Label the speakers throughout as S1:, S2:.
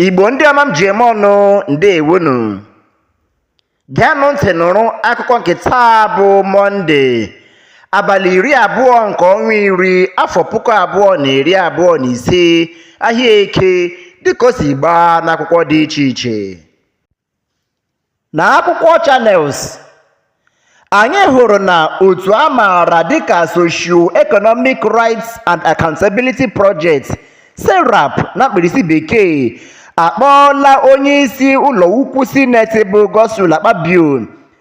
S1: Igbo ndị ọma m ji eme ọnụ ndewonu geenụ ntị nụrụ akụkọ nke taa bụ mọnde abalị iri abụọ nke ọnwa iri afọ puku abụọ na iri abụọ na ise ahịa eke dịka o si gbaa n'akwụkwọ dị iche iche Na akwụkwọ Channels, anyị hụrụ na otu a maara dịka Socio-Economic Rights and Accountability Project, SERAP na mkpirisi bekee, akpọọla onyeisi ụlọukwu Sineti bụ Godswill Akpabio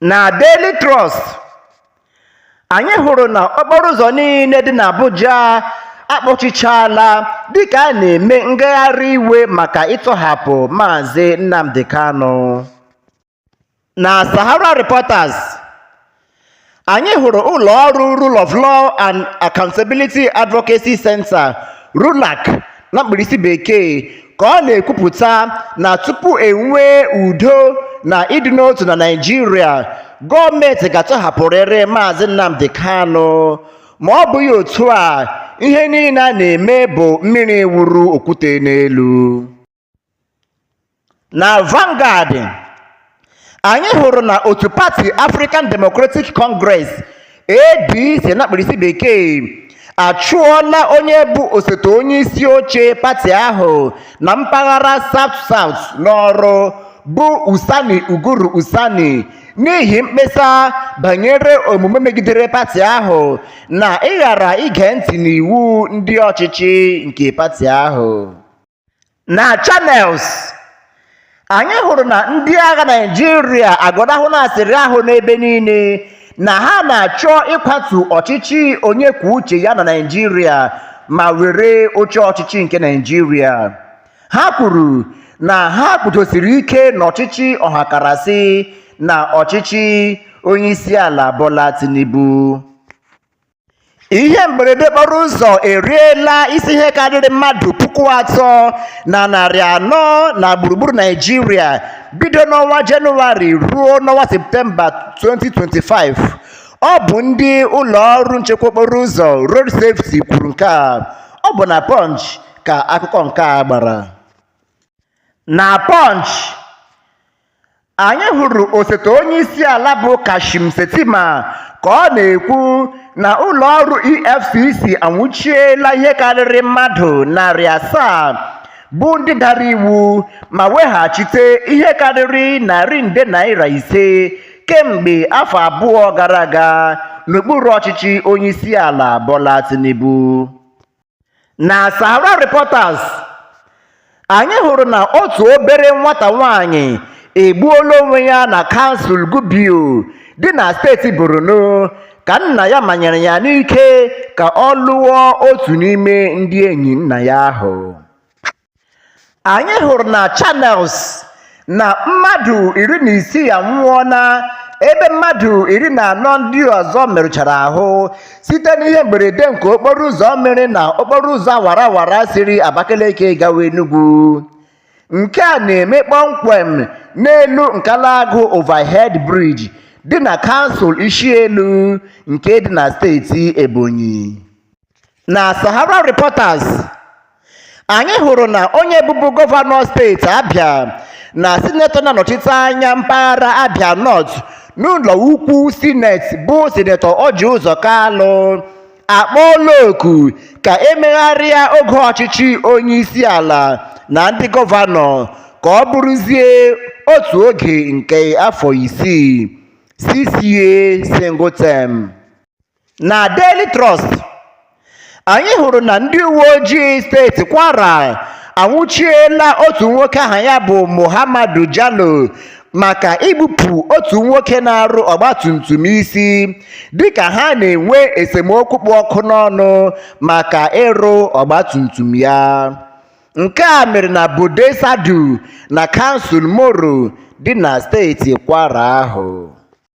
S1: na Daily Trust anyị hụrụ na okporo ụzọ niile dị n'Abuja akpọchichaala dịka a na-eme ngagharị iwe maka ịtọhapụ Maazị Nnamdi Kanu. Na Sahara Reporters, anyị hụrụ ụlọ ọrụ Rule of Law and Accountability Advocacy Center, RULAC, na mkpirisi bekee ka ọ na-ekwupụta na tupu enwee udo na ịdị n'otu na naijiria gọọmenti ga-atọhapụrịrị maazị nnamdi kanu ma ọ bụghị otu a ihe niile a na-eme bụ mmiri wuru okwute n'elu na Vanguard anyị hụrụ na otu pati African Democratic Congress ADC na mkpirisi bekee achụọla onye bụ osote onye isi oche pati ahụ na mpaghara South South n'ọrụ bụ Usani Uguru Usani n'ihi mkpesa banyere omume megidere pati ahụ na ịghara ige ntị n'iwu ndị ọchịchị nke pati ahụ na Channels anyị hụrụ na ndị agha Naịjirịa agọnahụla asịrị ahụ n'ebe niile na ha na-achọ ịkwatu ọchịchị onye kwuo uche ya na Naịjirịa ma were oche ọchịchị nke Naịjirịa ha kwuru na ha kwudosiri ike n'ọchịchị ọhakarasị na ọchịchị onye isi ala Bola Tinubu ihe mberede okporo ụzọ eriela isi ihe karịrị mmadụ puku atọ na narị anọ na gburugburu naijiria bido n'ọnwa jenụwarị ruo n'ọnwa septemba 2025 ọ bụ ndị ụlọ ọrụ nchekwa okporo ụzọ road safety kwuru nke a ọ bụ na punch ka akụkọ nke a gbara na punch Anyị hụrụ osote onyeisiala bụ Kashim Shettima ka ọ na-ekwu na ụlọọrụ EFCC anwụchiela ihe karịrị mmadụ narị asaa bụ ndị dara iwu ma weghachite ihe karịrị narị nde naira ise kemgbe afọ abụọ gara aga n'okpuru ọchịchị onyeisiala Bola Tinubu. na Sahara Reporters anyị hụrụ na otu obere nwata nwanyị egbuola onwe ya na kansụl Gubio dị na steeti Borno ka nna ya manyere ya n'ike ka ọ lụọ otu n'ime ndị enyi nna ya ahụ anyị hụrụ na Channels na mmadụ iri na isii anwụọla ebe mmadụ iri na anọ ndị ọzọ merụchara ahụ site n'ihe mberede nke okporo ụzọ mere na okporo ụzọ awara awara siri Abakaliki gawa Enugu nke a na-eme kpọmkwem n'elu Nkalagu Overhead Bridge dị na kansụl Ishielu nke dị na steeti Ebonyi Na Sahara Reporters, anyị hụrụ na onye bụbu gọvanọ steeti Abia na sinetọ na-anọchite anya mpaghara Abia North n'ụlọ ukwu sineti bụ sinetọ Orji Uzor Kalu akpọọla oku ka e megharịa oge ọchịchị onyeisiala na ndị gọvanọ ka ọ bụrụzie otu oge nke afọ isii, six-year single term. na Daily Trust anyị hụrụ na ndị uwe ojii steeti Kwara anwụchiela otu nwoke aha ya bụ Muhammadu Jalo maka igbupụ otu nwoke na-arụ ọgbatumtum isi dịka ha na-enwe esemokwu kpụ ọkụ n'ọnụ maka ịrụ ọgbatumtum ya nke a mere na Bode Sadu na kansụl Moro dị na steeti Kwara ahụ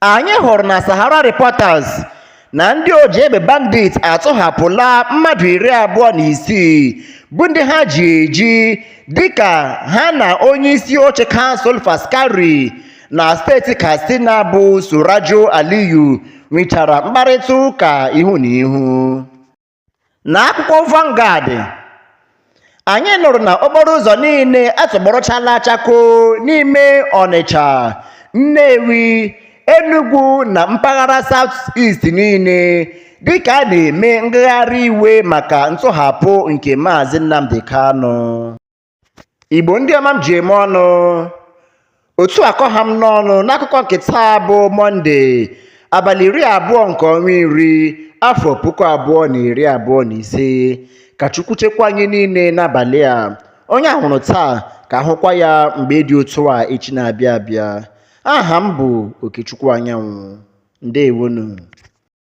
S1: Anyị hụrụ na Sahara Reporters na ndị oji egbe bandit atọhapụla mmadụ iri abụọ na isii bụ ndị ha ji eji dịka ha na onye isi oche kansụl Faskari na steeti Katsina bụ Surajo Aliyu nwechara mkparịta ụka ihu na ihu. na akwụkwọ Vanguard anyị nụrụ na okporo ụzọ niile atọgbọrọchala chakoo n'ime Ọnịcha Nnewi Enugu na mpaghara South East niile dịka a na-eme ngagharị iwe maka ntọhapụ nke Maazị Nnamdi Kanu Igbo ndị ọma m ji eme ọnụ otu a ka ọ ha m n'ọnụ n'akụkọ nke taa bụ mọnde abalị iri abụọ nke ọnwa iri afọ puku abụọ na iri abụọ na ise ka chukwu chekwaa anyị niile n'abalị a onye a hụrụ taa ka a hụkwa ya mgbe dị otu a echi na-abịa abịa aha m bụ okechukwu anyanwụ ndewonu